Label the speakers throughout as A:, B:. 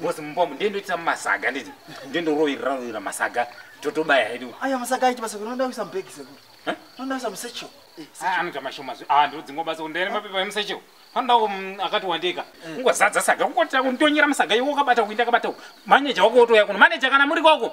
A: ngozi mumbombo ndiye ndoitisa mumasaga nditi ndiye ndoroirira roira masaga totobaya hedu aya masaga aiti masaga unoda
B: kuisa mubhegi sekuru unoda kuisa musecho eh, ah, anoita mashoma
A: zve ah ndodzingo basa kundaene mapepa emusecho panoda mm, akati wandika eh. ungozadza saga kungotira kundonyera musaga iwe ukabata kuinda kabata uku maneja wako wotoya kuno maneja kana muri kwako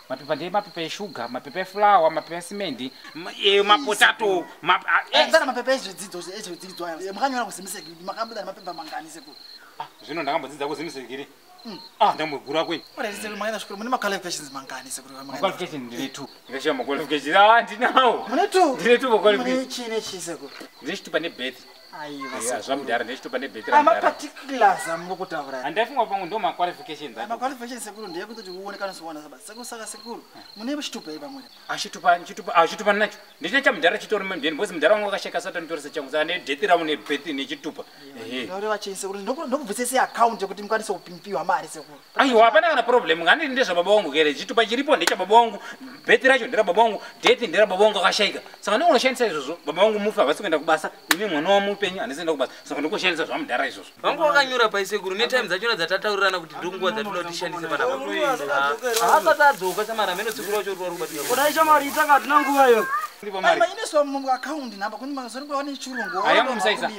B: mapepa ndei mapepa
A: eshuga mapepa efulawa mapepa esimendi eh, mapotato enzana
B: eh, mapepa ezvidzidzo ezvidzidzo aya eh, makanyora kuzimiseki makabuda nemapepa mangani sekuru ah, zvino ndakambodzidza
A: kuzimiseki ri hmm. ah, ndambogura
B: kweni
A: ndinechitupa
B: nebeth
A: aiva
B: zvamudhara ndechitopa
A: nebhekera ama particulars
B: amuri kutaura handaifunga pamwe ndo
A: maqualifications ama qualifications sekuru
B: ndiye kuti uone kana sowana saba sekuru saka sekuru mune chitupa iba mune achitupa achitupa achitupa
A: nacho ndichine chamudhara chitori mundeni bozi mudhara wangu akasheka sata nditorisa changu saka ne death ramu ne birth ne chitupa ehe ndore vachese
B: kuti ndokubvisese account yekuti mukwanise kupimpiwa mari sekuru aiwa hapana kana problem
A: ngandiri ndezvababa wangu kere chitupa chiripo ndechababa wangu beti racho nderababa wangu deti nderababa wangu akashaika saka ndongonoshandisa izvozvo baba vangu mufi havasi kuenda kubasa ini mwana wavo mupenyu handisi kuenda kubasa saka ndongoshandisa zvamudhara izvozvo vangu vakanyura paisekuru
C: netime dzachona dzatataurirana kuti ndonguva dzatinotishandise pana haasati adzoka samara hameno tsiku racho rikuva rikubatikakudai chamari itanga
B: tina nguva iyo inesomuakaunti namba kuni mazorikuva nechirungu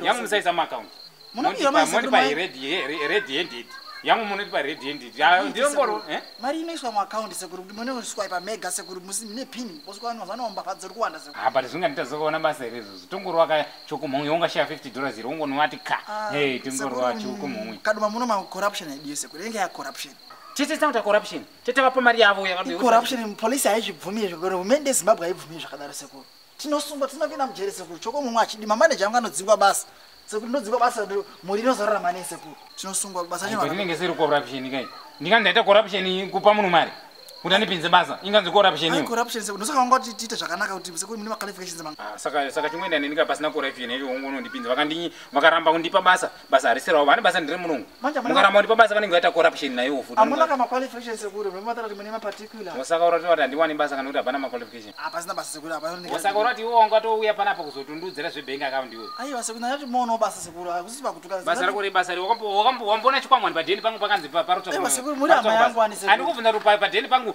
B: yamumisaisa
A: maakaunti Munondipa mari sekuru Mai. Red eh, red handed. Yangu munondipa red handed. Ya ndiro ngoro. Eh? Mari inoiswa mu
B: account sekuru kuti mune swipe mega sekuru musi mune pin. Bosco vano vanoomba padzi ri kuwanda sekuru. Ah but zvinga ndita zokuona
A: basa iri izvo. Tongoro waka chokumhungu yonga share 50 dollars iri ungo nwati ka. Ah, hey tongoro wa chokumhungu. Kaduma muno ma corruption
B: idie sekuru. Inge ya corruption. Tete tsakuta
A: corruption. Tete vapa mari yavo yakadii. Corruption mu police
B: haizvibvumi zvekuru. Hurumende Zimbabwe haibvumi zvakadaro sekuru. tinosungwa tinokuenda mujeri sekuru choko mumwe achidi mamaneja angu anodzingwa basa sekuru ndinodzingwa basa mhuri inozorara mane sekuru tinosungwa basa rinenge siri corruption
A: kai ndinga ndaita corruption kupa munhu mari kuti andipinze basa inganzi corruption corruption sekuru ndosaka vanga kuti
B: tiite zvakanaka kuti sekuru mune maqualifications ah, saka saka chimwe ndani ndinga
A: pasina corruption yacho ungonondipinza vakandinyi vakaramba kundipa basa basa harisi ravo vane basa ndiri murungu mukaramba kuti pabasa vanenge vaita corruption naiwo futi amuna kama qualification
B: sekuru munovatara kuti mune maparticular wasaka urati vati handiwani
A: basa kana kuti hapana maqualification hapasina basa sekuru
B: apa wasaka urati iwo wanga
A: touya pana apa kuzotundudzira zvebank account iwe aiwa sekuru nayati muonawo
B: basa sekuru hakusi pakutuka basa rako rebasa riwe
A: wakamboona chikwangwani padeni pangu pakanzi parutsa aiwa sekuru muri hama yangu
B: ani sekuru andikubvunza kuti padeni pangu